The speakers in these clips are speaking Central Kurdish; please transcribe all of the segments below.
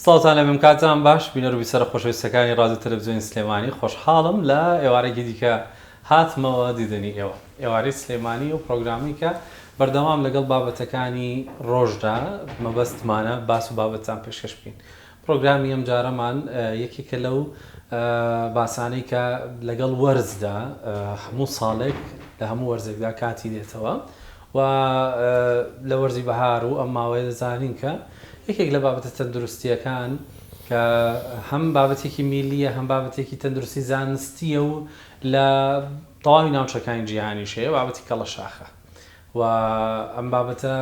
سڵاوتان لێ بم کاتتان باش بینەر و بیسەرە خۆشەویستەکانی ڕادیۆ تەلەفزیۆنی سلێمانی خۆشحاڵم لە ئێوارێکی دیکە هاتمەوە دیدەنی ئێوە ئێوارەی سلێمانی ئەو پڕۆگرامەی کە بەردەوام لەگەڵ بابەتەکانی ڕۆژدا مەبەستمانە باس و بابەتتان پێشکەش بکەین پڕۆگرامی ئەم جارەمان یەکێکە لەو باسانەی کە لەگەڵ وەرزدا هەموو ساڵێک لە هەموو وەرزێکدا کاتی دێتەوە و لە وەرزی بەهار و ئەم ماوەیە دەزانین کە یەکێک لە بابەتە تەندروستییەکان کە هەم بابەتێکی میللییە هەم بابەتێکی تەندروستی زانستییە و لە تەواوی ناوچەکانی جیهانیش هەیە بابەتی کەڵەشاخە و ئەم بابەتە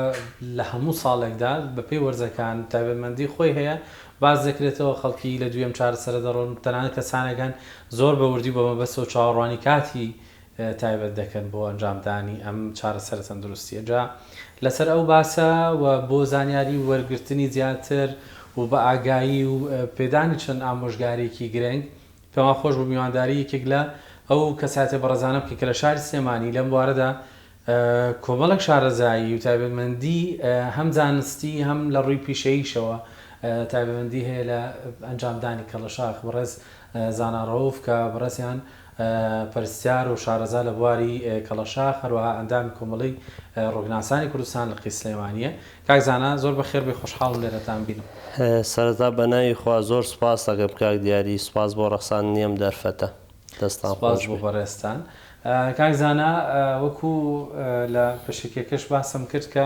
لە هەموو ساڵێکدا بەپێی وەرزەکان تایبەتمەندی خۆی هەیە باس دەکرێتەوە خەڵکی لە دوویەم چارەسەرە دەڕۆن تەنانەت کەسانێک هەن زۆر بە وردی و بە مەبەستەوە چاوەڕوانی کاتی تایبەت دەکەن بۆ ئەنجامدانی ئەم چارەسەرە تەندروستییە. جا لەسەر ئەو باسە و بۆ زانیاری وەرگرتنی زیاتر و بە ئاگایی و پێدانی چەند ئامۆژگارییەکی گرنگ، پێمان خۆش بوو میوانداری یەکێک لە ئەو کەسایەتیە بەڕێزانە بکەین کە لە شاری سلێمانی لەم بوارەدا کۆمەڵێک شارەزایی و تایبەتمەندی هەم زانستی هەم لە ڕووی پیشەییشەوە تایبەتمەندی هەیە لە ئەنجامدانی کەڵەشاخ بەڕێز زانا ڕەوف کە بەڕێزیان پەرستیار و شارەزا لە بواری کەڵەشاخ، هەروەها ئەندامی کۆمەڵەی ڕووگناسانی کوردستان لقی سلێمانییە. کاک زانا زۆر بەخێربێی خۆشحاڵم لێرەتان بینم. سەرەتا بەناوی خوا زۆر سوپاست دەکەم کاک دیاری، سوپاس بۆ ڕەخساندنی ئەم دەرفەتە. دەستتان خۆش بێت. سوپاس بۆ بەڕێزتان. کاک زانا وەکو لە پێشەکیەکەش باسم کرد کە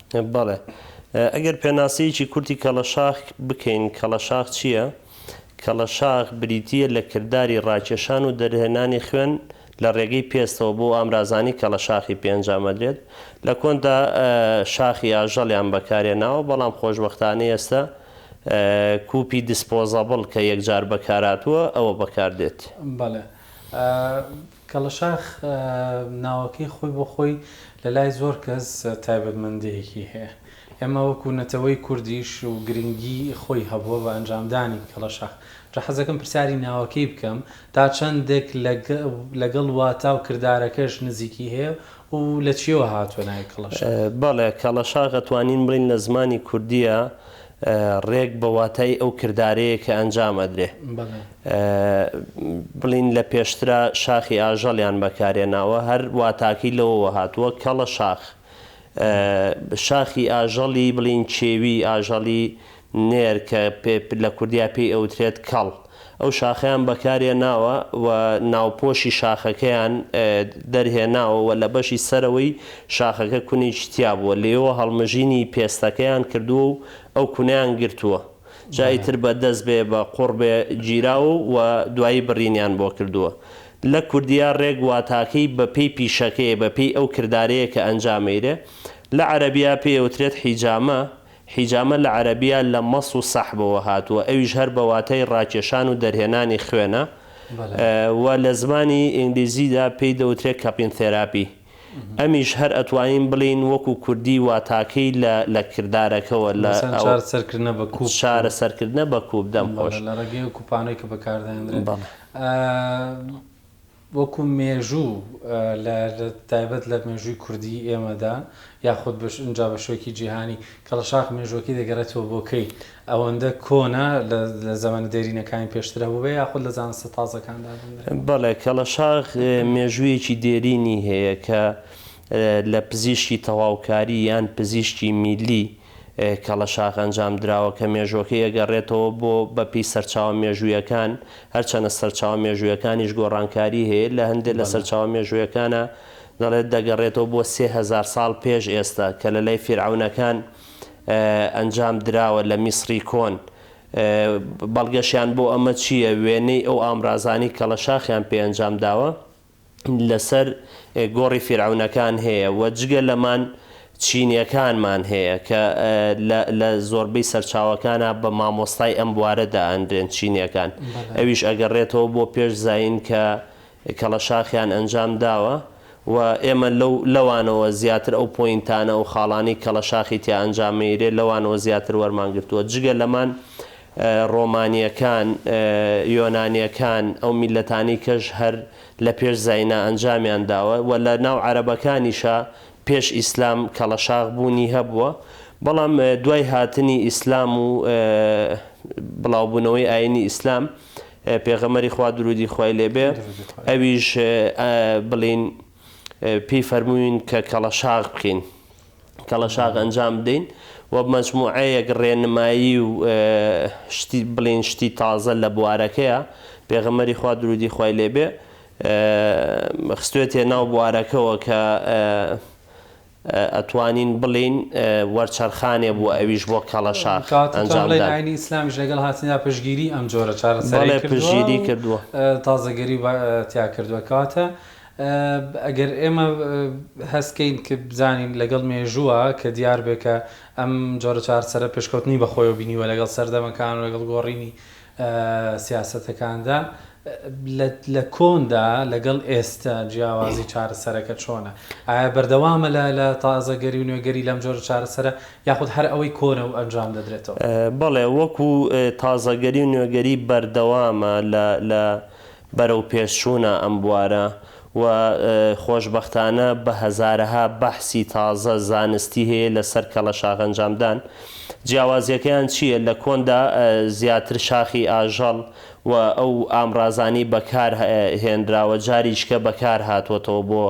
بەڵێ. ئەگەر پێناسەیەکی کورتی کەڵەشاخ بکەین، کەڵەشاخ چییە؟ کەڵەشاخ بریتییە لە کرداری ڕاکێشان و دەرهێنانی خوێن لە ڕێگەی پێستەوە بۆ ئامرازانی کەڵەشاخی پێ ئەنجام ئەدرێت. لە کۆندا شاخی ئاژەڵیان بەکارهێناوە، بەڵام خۆشبەختانە ئێستا کوپی دیسپۆزەبڵ کە یەکجار بەکارهاتووە ئەوە بەکاردێت. بەڵێ. کەڵەشاخ ناوەکەی خۆی بۆ خۆی لە لای زۆر کەس تایبەتمەندێیەکی هەیە. ئێمە وەکوو نەتەوەی کوردیش و گرینگی خۆی هەبووە بە ئەنجامدانی کەڵەشاخ. جا حەزەکەم پرسیاری ناوەکەی بکەم تا چەندێک لەگەڵ واتا و کردارەکەش نزیکی هەیە و لە چییەوە هاتووە ناوی کەڵەشاخ؟ بەڵێ کەڵەشاخ ئەتوانین بڵێین لە زمانی کوردییە ڕێک بە واتای ئەو کردارەیە کە ئەنجام ئەدرێ. بڵین لە پێشترا شاخی ئاژەڵیان بەکارهێناوە هەر واتاکەی لەوەوە هاتووە، کەڵە شاخ. شاخی ئاژەڵی بڵین کێوی ئاژەڵی نێر کە لە کوردیا پێی ئەوترێت کەڵ. ئەو شاخەیان بەکارهێناوە و ناوپۆشی شاخەکەیان دەرهێناوە و لە بەشی سەرەوەی شاخەکە کونێکی تیا بووە، لێیەوە هەڵمژینی پێستەکەیان کردووە و ئەو کونەیان گرتووە، جا ئیتر بە دەست بێ بە قوڕ بێ گیراوە و دوایی بڕینیان بۆ کردووە. لە کوردییە ڕێک واتاکەی بە پێی پیشەکەیە، بە پێی ئەو کردارەیە کە ئەنجامەیرێ. لە عەرەبییە پێی ئەوترێت حیجامە، حیجامە لە عەرەبییە لە مەس و سەحبەوە هاتووە، ئەویش هەر بە واتای ڕاکێشان و دەرهێنانی خوێنە و لە زمانی ئینگلیزیدا پێی دەوترێت کەپین ثێراپی. ئەمیش هەر ئەتوانین بڵێین وەکوو کوردی واتاکەی لە لە کردارەکەوە لە مەسەن چارەسەرکردنە بە کوپ. چارەسەرکردنە بە کوپ. دەم خۆش. بەڵێ لە ڕێگەی ئەو کوپانەی کە بەکاردەهێندرێت. بەڵێ. وەکو مێژوو لە تایبەت لە مێژووی کوردیی ئێمەدا یاخود بە ئینجا بە شێوەکی جیهانی، کەڵەشاخ مێژووەکەی دەگەڕێتەوە بۆ کەی؟ ئەوەندە کۆنە لە لە زەمەنە دێرینەکانی پێشتر هەبووبێ یاخود لە زانستە تازەکاندا بووبێ؟ بەڵێ، کەڵەشاخ مێژوویەکی دێرینی هەیە کە لە پزیشکی تەواوکاری یان پزیشکی میللی کەڵەشاخ ئەنجامدراوە کە مێژووەکەی ئەگەڕێتەوە بۆ بەپێی سەرچاوە مێژوویەکان، هەرچەنە سەرچاوە مێژوویەکانیش گۆڕانکاری هەیە، لە هەندێ لە سەرچاوە مێژوویەکانا دەڵێت دەگەڕێتەوە بۆ سێ هەزار ساڵ پێش ئێستا کە لەلای فیرعەونەکان ئەنجامدراوە لە میسڕی کۆن، بەڵگەشیان بۆ ئەمە چییە؟ وێنەی ئەو ئامرازانەی کەڵەشاخیان پێ ئەنجامداوە. لەسەر گۆڕی فیرعەونەکان هەیە و جگە لەمان چینیەکانمان هەیە کە لە زۆربەی سەرچاوەکانا بە مامۆستای ئەم بوارە دائەنرێن چینیەکان ئەویش ئەگەڕێتەوە بۆ پێش زایین کە کەڵەشاخیان ئەنجام داوە و ئێمە لەو لەوانەوە زیاتر ئەو پۆینتانە و خاڵانی کەڵەشاخی تیا ئەنجامەیرێ لەوانەوە زیاتر وەرمان گرتووە جگە لەمان ڕۆمانییەکان، یۆنانییەکان، ئەو میللەتانەی کەش هەر لە پێش زاینا ئەنجامیان داوە و لە ناو عەرەبەکانیشا پێش ئیسلام کەڵەشاخ بوونی هەبووە، بەڵام دوای هاتنی ئیسلام و بڵاوبوونەوەی ئایینی ئیسلام، پێغەمبەری خوا دروودی خوای لێ بێ ئەویش بڵێین، پێی فەرمووین کە کەڵەشاغ بکەین، کەڵەشاغ ئەنجام بدەین و مەجموعەیەک ڕێنمایی و شتی بڵێن شتی تازە لە بوارەکەیە، پێغەمبەری خوا دروودی خوای لێ بێ خستوێتە ناو بوارەکەوە کە ئەتوانین بڵێین وەرچەرخانێ بوو ئەویش بۆ کەڵەشاخ ئەنجام دان. ئاینی ئیسلامیش لەگەڵ هاتنیدا پشتگیری ئەم جۆرە چارەسەرەی کردووە و تازەگەری تیا کردووە. کەواتە ئەگەر ئێمە هەست کەین کە بزانین لەگەڵ مێژووە کە دیار بێ کە ئەم جۆرە چارەسەرە پێشکەوتنی بە خۆیەوە بینیوە لەگەڵ سەردەمەکان و لەگەڵ گۆڕینی سیاسەتەکاندا لە کۆندا لەگەڵ ئێستا جیاوازی چارەسەرەکە چۆنە؟ ئایا بەردەوامە لە تازەگەری و نوێگەری لەم جۆرە چارەسەرە یاخود هەر ئەوەی کۆنە و ئەنجام دەدرێتەوە؟ بەڵێ، وەکو تازەگەری و نوێگەری بەردەوامە لە بەرەوپێشچوونە ئەم بوارە و خۆشبەختانە بە هەزارەها بەحسی تازە زانستی هەیە لەسەر کەڵەشاخ ئەنجامدان. جیاوازیەکەیان چییە؟ لە کۆندا زیاتر شاخی ئاژەڵ و ئەو ئامرازانەی بەکار هێنراوە جاریچکە بەکار هاتووەتەوە بۆ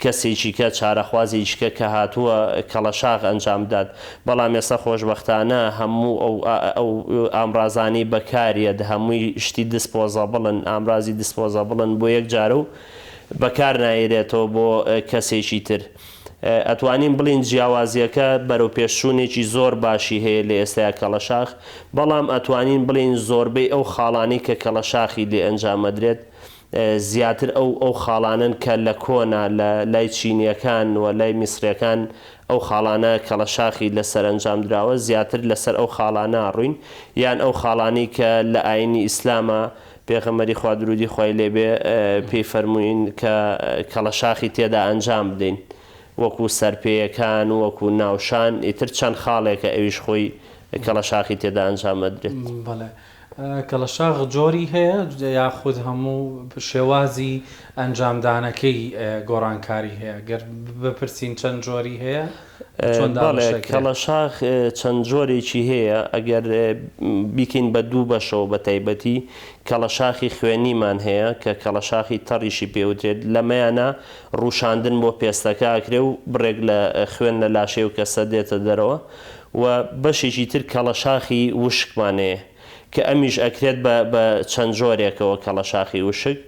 کەسێکیکە چارەخوازێکیکە کە هاتووە کەڵەشاخ ئەنجام بدات بەڵام ئێستا خۆشبەختانە هەموو ئەو ئەو ئامرازانەی بەکاریەت هەمووی شتی دسپۆزەبڵن ئامرازی دسپۆزەبڵن بۆ یەک جارە و بەکار نایرێتەوە بۆ کەسێکی تر ئەتوانین بڵێین جیاوازیەکە بەرەوپێشچوونێکی زۆر باشی هەیە لە ئێستای کەڵەشاخ، بەڵام ئەتوانین بڵێین زۆربەی ئەو خاڵانەی کە کەڵەشاخی لێ ئەنجام ئەدرێت زیاتر ئەو ئەو خاڵانەن کە لە کۆنا لە لای چینیەکان و لای میسریەکان ئەو خاڵانە کەڵەشاخی لەسەر ئەنجام دراوە زیاتر لەسەر ئەو خاڵانە ئەڕوین یان ئەو خاڵانەی کە لە ئاینی ئیسلاما پێغەمبەری خوا درودی خوای لێ بێ پێی فەرمووین کە کەڵەشاخی تێدا ئەنجام بدەین وەکو سەرپێیەکان و وەکو ناوشان ئیتر چەند خاڵێکە ئەویش خۆی کەڵەشاخی تێدا ئەنجام ئەدرێت. بەڵێ کەڵەشاخ جۆری هەیە یاخود هەموو شێوازی ئەنجامدانەکەی گۆڕانکاری هەیە گەر بپرسین چەند جۆری هەیە؟ بەڵێ کەڵەشاخ چەند جۆرێکی هەیە ئەگەر بیکەین بە دوو بەشەوە بە تایبەتی کەڵەشاخی خوێنیمان هەیە کە کەڵەشاخی تەڕیشی پێ وترێت لەمەیانا ڕووشاندن بۆ پێستەکە ئەکرێ و بڕێک لە خوێن لە لاشەی ئەو کەسە دێتە دەرەوە و بەشێکی تر کەڵەشاخی وشکمان هەیە کە ئەمیش ئەکرێت بە چەند جۆرێکەوە کەڵەشاخی وشک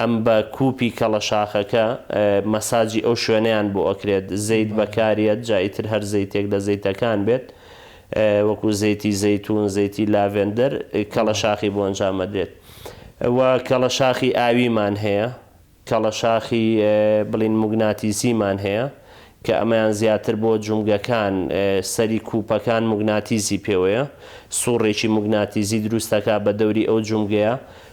ئەم بە کوپی کەڵە شاخەکە مەساجی ئەو شوێنەیان بۆ ئەکرێت زەیت بەکاریەت جا ئیتر هەر زەیتێک لە زەیتەکان بێت وەکو زەیتی زەیتون زەیتی لاڤێندەر کەڵە شاخی بۆ ئەنجام ئەدرێت و کەڵە شاخی ئاویمان هەیە کەڵە شاخی بڵین موگناتیسیمان هەیە کە ئەمەیان زیاتر بۆ جومگەکان سەری کوپەکان موگناتیسی پێوەیە سوڕێکی موگناتیزی دروستەکا بە دەوری ئەو جومگەیە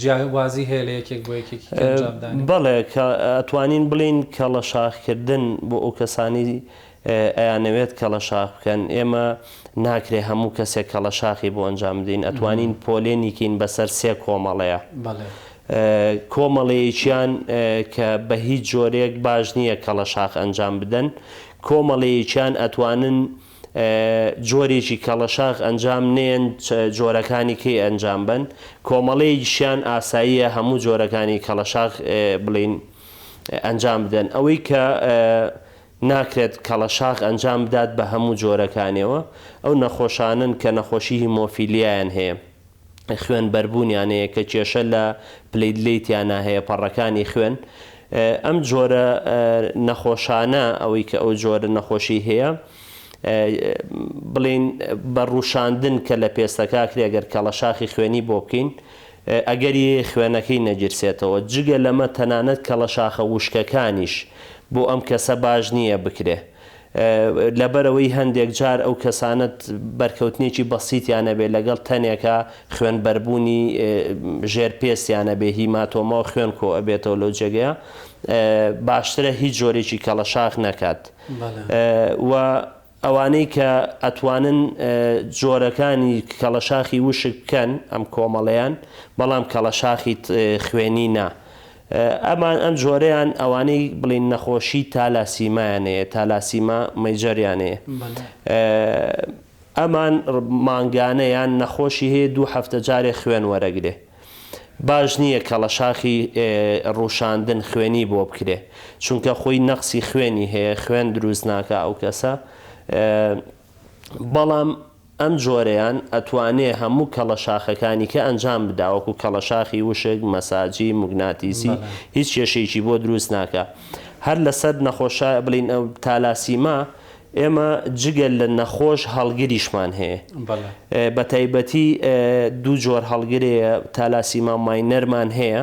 جیاوازی هەیە لە یەکێک بۆ یەکێکی کە ئەنجام دانێ؟ بەڵێ کە ئەتوانین بڵێین کەڵە شاخ کردن بۆ ئەو کەسانەی ئەیانەوێت کەڵە شاخ بکەن ئێمە ناکرێ هەموو کەسێک کەڵە شاخی بۆ ئەنجام بدەین ئەتوانین پۆلێنی کەین بەسەر سێ کۆمەڵەیە کۆمەڵەیەکیان کە بە هیچ جۆرێک باش نییە کەڵە شاخ ئەنجام بدەن کۆمەڵەیەکیان ئەتوانن جۆرێکی کەڵەشاخ ئەنجام نێن جۆرەکانی کەی ئەنجام بەن کۆمەڵەیەکیشیان ئاساییە هەموو جۆرەکانی کەڵەشاخ بڵین ئەنجام بدەن ئەوەی کە ناکرێت کەڵەشاخ ئەنجام بدات بە هەموو جۆرەکانیەوە ئەو نەخۆشانن کە نەخۆشی هیمۆفیلیایان هەیە خوێن بەربوونیان هەیە کە کێشە لە پلەیدلەیتیانا هەیە پەڕەکانی خوێن ئەم جۆرە نەخۆشانە ئەوەی کە ئەو جۆرە نەخۆشی هەیە بڵین بە ڕووشاندن کە لە پێستەکە کرێ گەر کەڵەشاخی خوێنی بۆ بکەین ئەگەری خوێنەکەی نەگیرسێتەوە جگە لەمە تەنانەت کەڵەشاخە وشکەکانیش بۆ ئەم کەسە باش نییە بکرێ لەبەرئەوەی هەندێک جار ئەو کەسانەت بەرکەوتنێکی بەسیتیان هەبێت لەگەڵ تەنێکە خوێن بەربوونی ژێر پێستیان هەبێت هیماتۆماو خوێن کۆ ئەبێتەوە لەو جێگەیە باشترە هیچ جۆرێکی کەڵەشاخ نەکات و ئەوانەی کە ئەتوانن جۆرەکانی کەڵەشاخی وشک بکەن ئەم کۆمەڵەیان بەڵام کەڵەشاخی خوێنی نا ئەمان ئەم جۆرەیان ئەوانەی بڵین نەخۆشی تالاسیمایانەیە تالاسیما مەیجەریانەیە ئەمان مانگانەیان نەخۆشی هەیە دوو هەفتە جارێ خوێن وەرەگرێ باش نییە کە لە شاخی ڕووشاندن خوێنی بۆ بکرێ چونکە خۆی نەقسی خوێنی هەیە خوێن دروست ناکە ئەو کەسە بەڵام ئەم جۆرەیان ئەتوانێ هەموو کەڵە شاخەکانیکە ئەنجام بدا وەکو کەڵە شاخی وشک، مەساجی، موگناتیسی هیچ کێشەیەکی بۆ دروست ناکا. هەر لەسەر نەخۆش شایە بڵین ئەو تالاسیما ئێمە جگە لە نەخۆش هەڵگریشمان هەیە بە تایبەتی دوو جۆر هەڵگرێیە تالاسیما ماینەرمان هەیە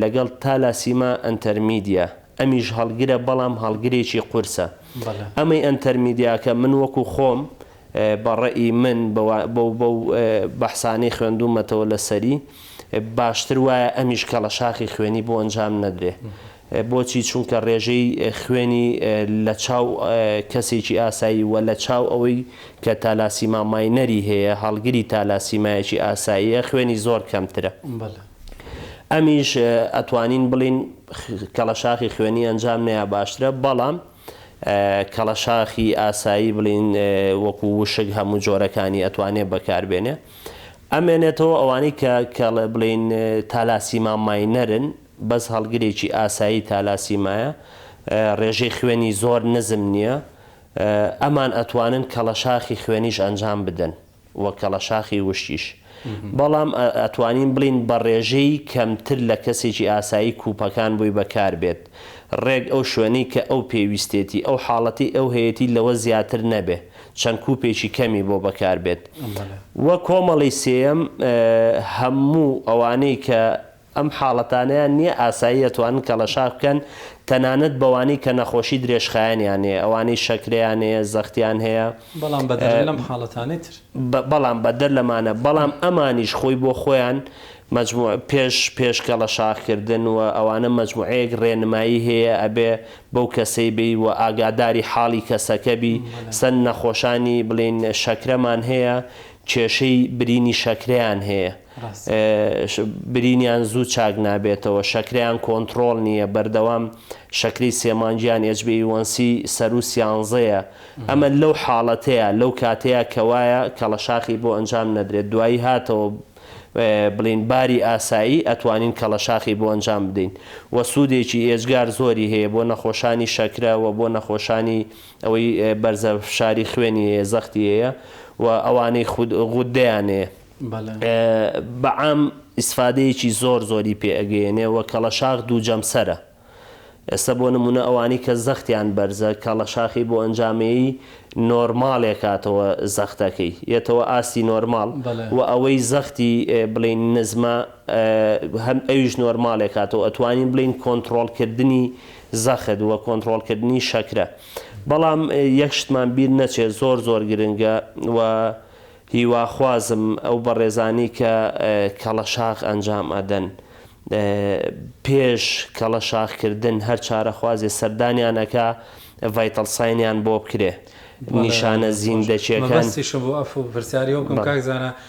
لەگەڵ تالاسیما ئەنتەرمیدیا ئەمیش هەڵگرە بەڵام هەڵگرێکی قورسە ئەمەی ئەنتەرمیدیاکە من وەکو خۆم بە ڕەئی من بەو بەو بەحسانەی خوێندومەتەوە لەسەری باشتر وایە ئەمیش کەڵەشاخی خوێنی بۆ ئەنجام نەدرێ بۆچی چونکە ڕێژەی خوێنی لە چاو کەسێکی ئاسایی وە لە چاو ئەوەی کە تالاسیما ماینەری هەیە هەڵگری تالاسیمایەکی ئاساییە خوێنی زۆر کەمترە. ئەمیش ئەتوانین بڵین کەڵەشاخی خوێنی ئەنجام نەیە باشترە بەڵام کەڵەشاخی ئاسایی بڵین وەکو وشک هەموو جۆرەکانی ئەتوانێت بەکاربێنێ ئەمێنێتەوە ئەوانەی کە کەڵێ بڵین تالاسیما ماینەرن بەس هەڵگرێکی ئاسایی تالاسیمایە ڕێژەی خوێنی زۆر نزم نییە ئەمان ئەتوانن کەڵەشاخی خوێنیش ئەنجام بدەن و کەڵەشاخی وشکیش، بەڵام ئەتوانین بڵێین بە ڕێژەی کەمتر لە کەسێکی ئاسایی کوپەکان بۆی بەکار بێت، ڕێک ئەو شوێنەی کە ئەو پێویستێتی، ئەو حاڵەتەی ئەو هەیەتی لەوە زیاتر نەبێ، چەند کوپێکی کەمی بۆ بەکار بێت. و کۆمەڵەی سێیەم، هەموو ئەوانەی کە ئەم حاڵەتانەیان نیە ئاسایی ئەتوانن کەڵەشاخ بکەن تەنانەت بەوانەی کە نەخۆشی درێژخایەنیان هەیە ئەوانەی شەکرەیان هەیە زەختیان بەڵام بەدەر لەم حاڵەتانەی تر. هەیە بەڵام بەدەر لەمانە بەڵام ئەمانیش خۆی بۆ خۆیان مەجموع پێش پێش کەڵەشاخ کردن وە ئەوانە مەجموعەیەک ڕێنمایی هەیە ئەبێ بەو کەسەی بی وە ئاگاداری حاڵی کەسەکە بی سەن نەخۆشانی بڵێن شەکرەمان هەیە کێشەی برینی شەکرەیان هەیە برینیان زوو چاک نابێتەوە شەکرەیان کۆنتڕۆڵ نییە بەردەوام شەکری سێ مانگیان ئێچبیەیوەنسی سەروو سیانزەیە ئەمە لەو حاڵەتەیە لەو کاتەیە کەوایە کەڵەشاخی بۆ ئەنجام نەدرێت دوایی هاتەوە بڵین باری ئاسایی ئەتوانین کەڵەشاخی بۆ ئەنجام بدەین وە سوودێکی ئێجگار زۆری هەیە بۆ نەخۆشانی شەکرە وە بۆ نەخۆشانی ئەوەی بەرزە فشاری خوێنی هەیە زەختی هەیە و ئەوانەی خود غودەیان هەیە بەعام ئیسفادەیەکی زۆر زۆری پێ ئەگەیەنێ وە کەڵەشاخ دوو جەمسەرە ئێستا بۆ نمونە ئەوانەی کە زەختیان بەرزە کەڵەشاخی بۆ ئەنجامێی نۆرماڵێ کاتەوە زەختەکەی یەتەوە ئاستی نۆرماڵ وە ئەوەی زەختی بڵێن نزمە هەم ئەویش نۆرماڵێ کاتەوە ئەتوانین بڵێن کۆنتڕۆڵ کردنی زەخت وە کۆنتڕۆڵ کردنی شەکرە بەڵام یەک شتمان بیر نەچێت زۆر زۆر گرنگە وە هیوا خوازم ئەو بەڕێزانی کە کەڵەشاخ ئەنجام ئەدەن پێش کەڵەشاخ کردن هەر چارە خوازێ سەردانیان ئەکا ڤایتەڵ ساینیان بۆ بکرێ نیشانە زیندەکیەکان. مەبەستیشم بۆ ئەف پرسیاری ئەو بکەم کاک زانا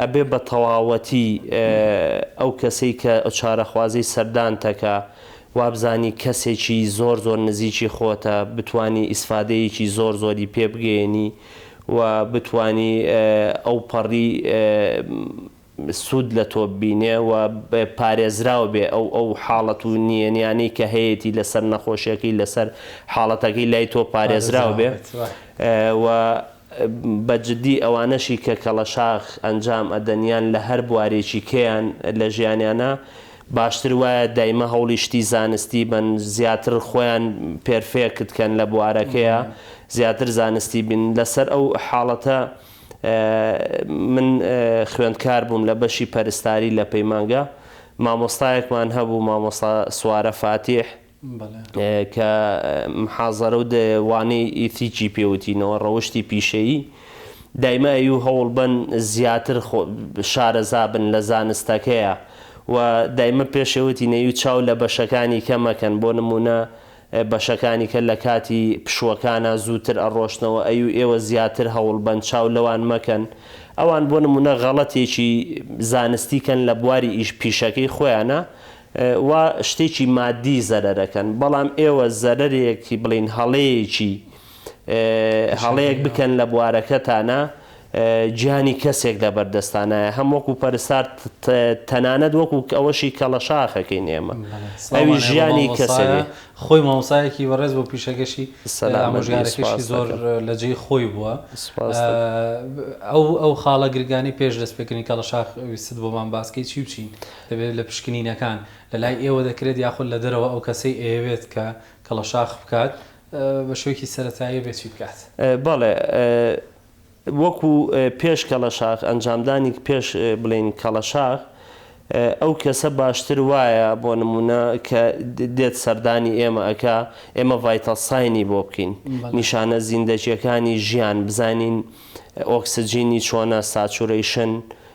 ئەبێ بە تەواوەتی ئەو کەسەی کە چارەخوازی سەردانتەکە وابزانی کەسێکی زۆر زۆر نزیکی خۆتە بتوانی ئیسفادەیەکی زۆر زۆری پێ بگەیەنی و بتوانی ئەو پەڕی سود لە تۆ ببینێ و پارێزراو بێ ئەو ئەو حاڵەت و نیەنیانەی کە هەیەتی لەسەر نەخۆشیەکەی لەسەر حاڵەتەکەی لای تۆ پارێزراو بێ و بە جدی ئەوانەشی کە کەڵەشاخ ئەنجام ئەدەن یان لە هەر بوارێکی کێیان لە ژیانیانا باشتر وایە دایمە هەوڵی شتی زانستی بەن زیاتر خۆیان پێرفێکت کەن لە بوارەکەیا زیاتر زانستی بن لە سەر ئەو حاڵەتە من خوێندکار بووم لە بەشی پەرستاری لە پەیمانگا مامۆستایەکمان هەبوو مامۆستا سوارە فاتیح کە محازەرە و وانەی ئیتیکی پێ وتینەوە، ڕەوشتی پیشەیی، دایمای و هەوڵبەن زیاتر شارەزا بن لە زانستەکەیە و دایمە پێشێ وتینە و چاو لە بەشەکانی کە مەکەن، بۆ نموونە بەشەکانی کە لە کاتی پشووەکانا زووتر ئەڕۆشتنەوە ئەی و ئێوە زیاتر هەوڵبەن چاو لەوان مەکەن، ئەوان بۆ نموونە غەڵەتێکی زانستی کەن لە بواری ئیش پیشەکەی خۆیانا، وا شتێکی مادی زەرەرەکەن بەڵام ئێوە زەرەرێکی بڵێین هەڵەیەکی هەڵەیەک بکەن لە بوارەکەتانا گیانی کەسێک لەبەر دەستانایە هەم وەکو پەرستار تەنانەت وەکو ئەوەشی کەڵەشاخەکەین ئێمە ئەوی ژیانی کەسێ خۆی مامۆسایەکی بەڕێز بۆ پیشەکەشی ئامۆژگارەکەشی زۆر لە جێی خۆی بووە ئەو ئەو خاڵە گرگانی پێش دەست پێکردنی کەڵەشاخ ویستت بۆمان باسکەی چی و چین؟ دەبێت لە پشکنینەکان لە لای ئێوە دەکرێت یاخود لە دەرەوە ئەو کەسەی ئەیەوێت کە کەڵەشاخ بکات بە شێوەکی سەرەتایی ئەبێت چی بکات؟ بەڵێ وەکو پێش کەڵەشاخ ئەنجامدانی پێش بڵێین کەڵەشاخ ئەو کەسە باشتر وایە بۆ نمونە کە دێت سەردانی ئێمە ئەکا ئێمە ڤایتەڵ ساینی بۆ بکەین نیشانە زیندەجیەکانی ژیان بزانین ئۆکسجینی چۆنە ساچورەیشن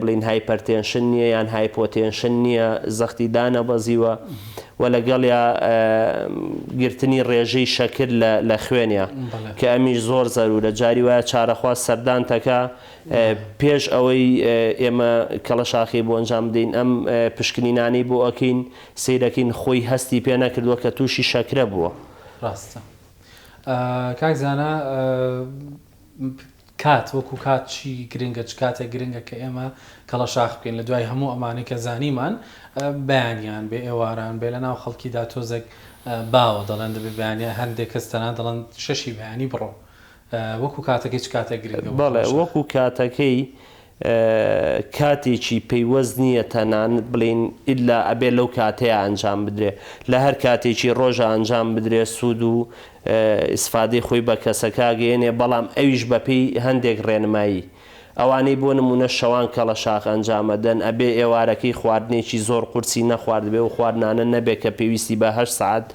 بڵێین هایپەرتێنشن نییە یان هایپۆتێنشن نییە، زەختی دانەبەزیوە و لەگەڵیا گرتنی ڕێژەی شەکر لە خوێنیا کە ئەمیش زۆر زەرورە، جاری وایە چارەخواز سەردان تەکا پێش ئەوەی ئێمە کەڵەشاخێی بۆ ئەنجام بدەین، ئەم پشکنینانەی بۆ ئەکەین سەیرەکەین خۆی هەستی پێ نەکردووە کە تووشی شەکرە بووە. ڕاستە کاک زانا. کات وەکو کات چی گرنگە چ کاتێک گرنگە کە ئێمە کەڵەشاخ بکەین لە دوای هەموو ئەمانەی کە زانیمان بەیانیان بێ ئێواران بێ لەناو خەڵکیدا تۆزێک باوە دەڵێن دەبێ بەیانیان هەندێک کەس تەنان دەڵێن شەشی بەیانی بڕۆ وەکو کاتەکەی چ کاتێک گرنگە بۆ کەڵەشاخ؟ بەڵێ وەکو کاتەکەی کاتێکی پەیوەست نییە تەنانەت بڵێین ئیللا ئەبێ لەو کاتەیە ئەنجام بدرێ لە هەر کاتێکی ڕۆژە ئەنجام بدرێ سوود و ئیسفادەی خۆی بە کەسەکە ئەگەیەنێ بەڵام ئەویش بەپێی هەندێک ڕێنمایی ئەوانەی بۆ نموونە شەوان کەڵەشاخ ئەنجام ئەدەن ئەبێ ئێوارەکەی خواردنێکی زۆر قورسی نەخواردبێ و خواردنانە نەبێ کە پێویستی بە هەشت سەعات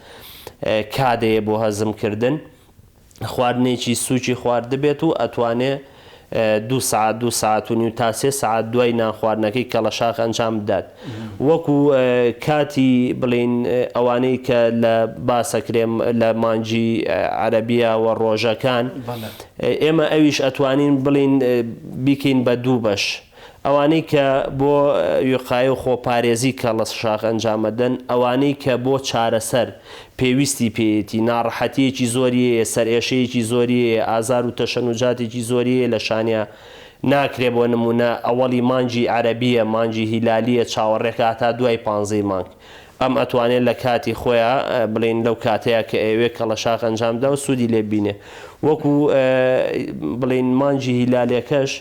کادەیە بۆ هەزمکردن. خواردنێکی سووکی خواردبێت و ئەتوانێ دوو سەعات دوو سەعات و نیو تا سێ سەعات دوای نان خواردنەکەی کەڵەشاخ ئەنجام بدات وەکو کاتی بڵێین ئەوانەی کە لە باسە کرێم لە مانگی عەرەبیە و ڕۆژەکان ئێمە ئەویش ئەتوانین بڵێین بیکەین بە دوو بەش ئەوانەی کە بۆ وقایە و خۆپارێزی کەڵەس شاخ ئەنجام ئەدەن، ئەوانەی کە بۆ چارەسەر پێویستی پێیەتی، ناڕەحەتییەکی زۆری هەیە، سەرئێشەیەکی زۆری هەیە، ئازار و تەشەنوجاتێکی زۆری هەیە لە شانیا ناکرێ بۆ نموونە ئەوەڵی مانگی عەرەبییە، مانگی هیلالییە چاوەڕێکە هەتا دوای پانزەی مانگ. ئەم ئەتوانێ لە کاتی خۆیا بڵێین لەو کاتەیا کە ئەیەوێ کەڵەشاخ ئەنجام بدا و سوودی لێ ببینێ. وەکوو بڵێین مانگی هیلالێکەش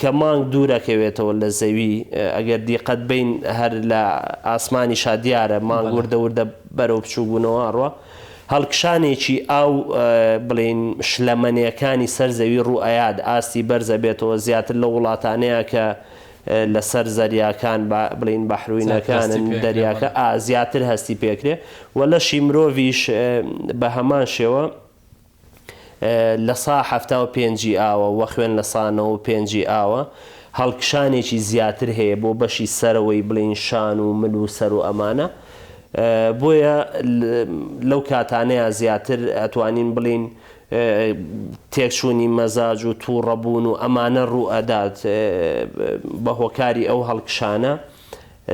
کە مانگ دوورەکەوێتەوە لە زەوی ئەگەر دیقەت بەین هەر لە ئاسمانیشا دیارە مانگ وردە وردە بەرەو بچووک بوونەوە ئەڕوا هەڵکشانێکی ئاو بڵێین شلەمەنێکانی سەر زەوی ڕوو ئەیات ئاستی بەرز ئەبێتەوە زیاتر لەو وڵاتانەیە کە لەسەر زەریاکان با بڵێین بەحروینەکانن دەریاکە ئا زیاتر هەستی پێکرێ و لەشی مرۆڤیش بە هەمان شێوە لە سا حەفتا و پێنج ی ئاوە وە خوێن لە سا نەوە و پێنج ی ئاوە، هەڵکشانێکی زیاتر هەیە بۆ بەشی سەرەوەی بڵین شان و مل و سەر و ئەمانە بۆیە لەو کاتانەیا زیاتر ئەتوانین بڵین تێکچونی مەزاج و توڕە بوون و ئەمانە ڕوو ئەدات بە هۆکاری ئەو هەڵکشانە.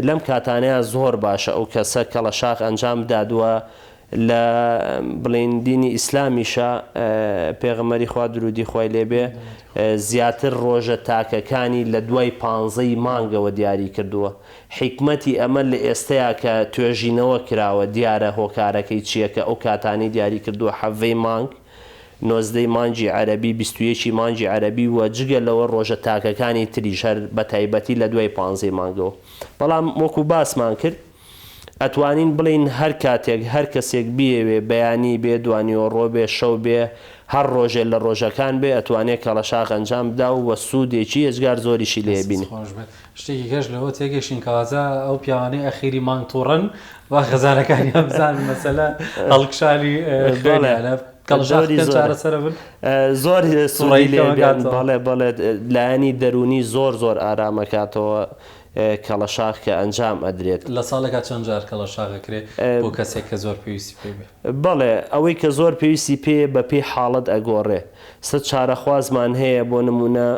لەم کاتانەیا زۆر باشە ئەو کەسە کەڵەشاخ ئەنجام بدات وە لە بڵێین دینی ئیسلامیشە پێغمەری خوا درودی خۆی لێبێ زیاتر ڕۆژە تاکەکانی لە دوای پانزەی مانگەوە دیاری کردووە حیکمەتی ئەمە لە ئێستەیە کە توێژینەوە کراوە دیارە هۆکارەکەی چییە کە ئەو کاتانی دیاری کردووە حەڤەی مانگ نۆزدەی مانگی عەرەبی، بیست و یەکی مانگی عەرەبی و جگە لەوە ڕۆژە تاکەکانی تریش هەر بەتایبەتی لە دوای پانزەی مانگەوە. بەڵام وەکو باسمان کرد ئەتوانین بڵێین هەر کاتێک هەر کەسێک بیەوێ بەیانی بێ، دوانیوەڕۆ بێ، شەو بێ، هەر ڕۆژێ لە ڕۆژەکان بێ ئەتوانێ کەڵەشاخ ئەنجام بدا و سوودێکی ئێجگار زۆریشی لێ ئەبینێ. شتێکی کەش لەوە تێگەشتین کەواتە ئەو پیاوانەی ئەخیری مانگ توڕەن با خەزانەکانیان بزانن مەسەلە هەڵکشانی خوێنیانە کەڵژاوی چارەسەرە بن زۆر سوڕی بەڵێ بەڵێ لایەنی دەرونی زۆر زۆر ئارامەکاتەوە کەڵەشاخ کە ئەنجام ئەدرێت لە ساڵێکا چەند جار کەڵەشاغەکرێ بۆ کەسێک کە زۆر پێویستی پێ بێ بەڵێ ئەوەی کە زۆر پێویستی پێ بە پێی حاڵەت ئەگۆڕێ سەد چارەخوازمان هەیە بۆ نمونە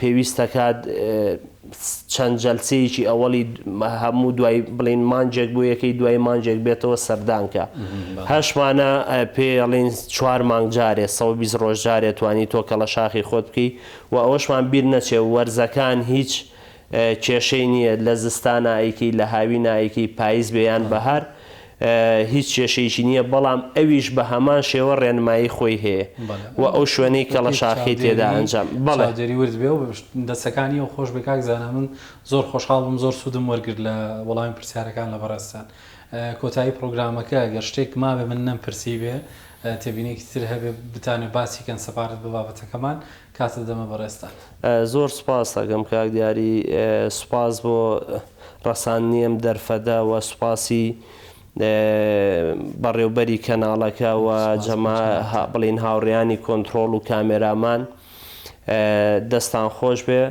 پێویست دەکات چەند جەلسەیەکی ئەوەڵی هەموو دوای بڵین مانجێک بۆ یەکەی دوای مانجێک بێتەوە سەردانکە هەشمانە پێڵین چوار مانگ جارێ سە بیست ڕۆژ جارێ توانی تۆ کەڵە شاخی خۆت بکەی و ئەوەشمان بیر نەچێ وەرزەکان هیچ کێشەی نیە لە زستانا ئەیکەی لە هاوینا ئەیکەی پایز بێ یان بەهار هیچ کێشەیەکی نیە بەڵام ئەویش بە هەمان شێوە ڕێنمایی خۆی هەیە و ئەو شوێنەی کەڵە شاخی تێدا ئەنجام بەڵێ. چاودێری ورد بێ و دەستەکانی ئەو خۆش بێ کاک زانا من زۆر خۆشحاڵ بووم زۆر سوودم وەرگرت لە وەڵامی پرسیارەکان لە بەڕێزتان کۆتایی پڕۆگرامەکە گەر شتێک مابێ من نەمپرسیبێ تێبینێکی تر هەبێ بتانێ باسی کەن سەبارەت بە بابەتەکەمان. کاتت دەمە بەڕێزتان. زۆر سوپاست ئەکەم کاک دیاری، سوپاس بۆ ڕەساندنی ئەم دەرفەتە و سوپاسی بەڕێوبەری کەناڵەکە و جەما بڵێین هاوڕێیانی کۆنتڕۆڵ و کامێرامان دەستان خۆشبێ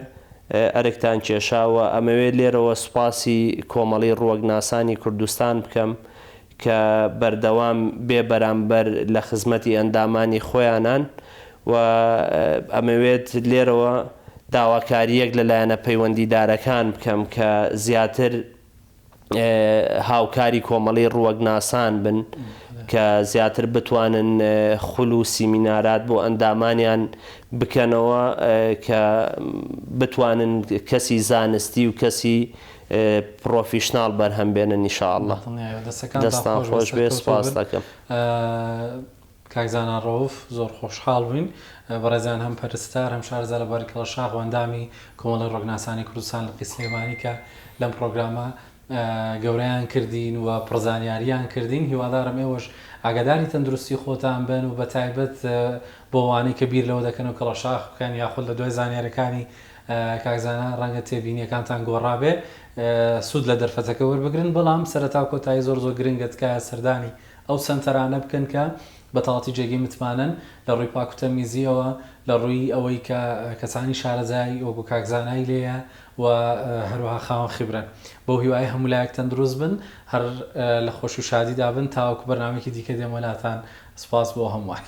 ئەرکتان کێشاوە، ئەمەوێ لێرەوە سوپاسی کۆمەڵی ڕوەکناسانی کوردستان بکەم کە بەردەوام بێ بەرامبەر لە خزمەتی ئەندامانی خۆیانان و ئەمەوێت لێرەوە داواکارییەک لە لایەنە پەیوەندیدارەکان بکەم کە زیاتر هاوکاری کۆمەڵی ڕووەکناسان بن کە زیاتر بتوانن خول و سیمینارات بۆ ئەندامانیان بکەنەوە کە بتوانن کەسی زانستی و کەسی پڕۆفیشناڵ بەرهەم بێنن ان شاء اللە دڵنیایەوە دەستەکانتان دەستان خۆش بێت خۆش بێت سەرکەوتوو سوپاست بن ئەکەم. کاک زانا ڕەوف زۆر خۆشحاڵ بووین بەڕێزیان هەم پەرستار هەم شارەزا لە بواری کەڵە شاخ و ئەندامی کۆمەڵی ڕۆگناسانی کوردستان لقی سلێمانی کە لەم پڕۆگرامە گەورەیان کردین و پڕ زانیاریان کردین هیوادارم ئێوەش ئاگاداری تەندروستی خۆتان بن و بەتایبەت بۆ ئەوانەی کە بیر لەوە دەکەن و کەڵە شاخ بکەن یاخود لە دوای زانیاریەکانی کاک زانا ڕەنگە تێبینیەکانتان گۆڕابێ سود لە دەرفەتەکە وەربگرن بەڵام سەرەتا و کۆتایی زۆر زۆر گرنگە تکایە سەردانی ئەو سەنتەرانە بکەن کە بەتاڵەتی جێگەی متمانەن لە ڕووی پاک و تەمیزیەوە لە ڕووی ئەوەی کە کەسانی شارەزای وەکو کاک زانای لێیە و هەروەها خاوەن خیبرەن بەو هیوایە هەموو لایەک تەندروست بن هەر لە خۆشی و شادیدا بن تاوەکو بەرنامەیەکی دیکە دێمە لاتان سوپاس بۆ هەمووان.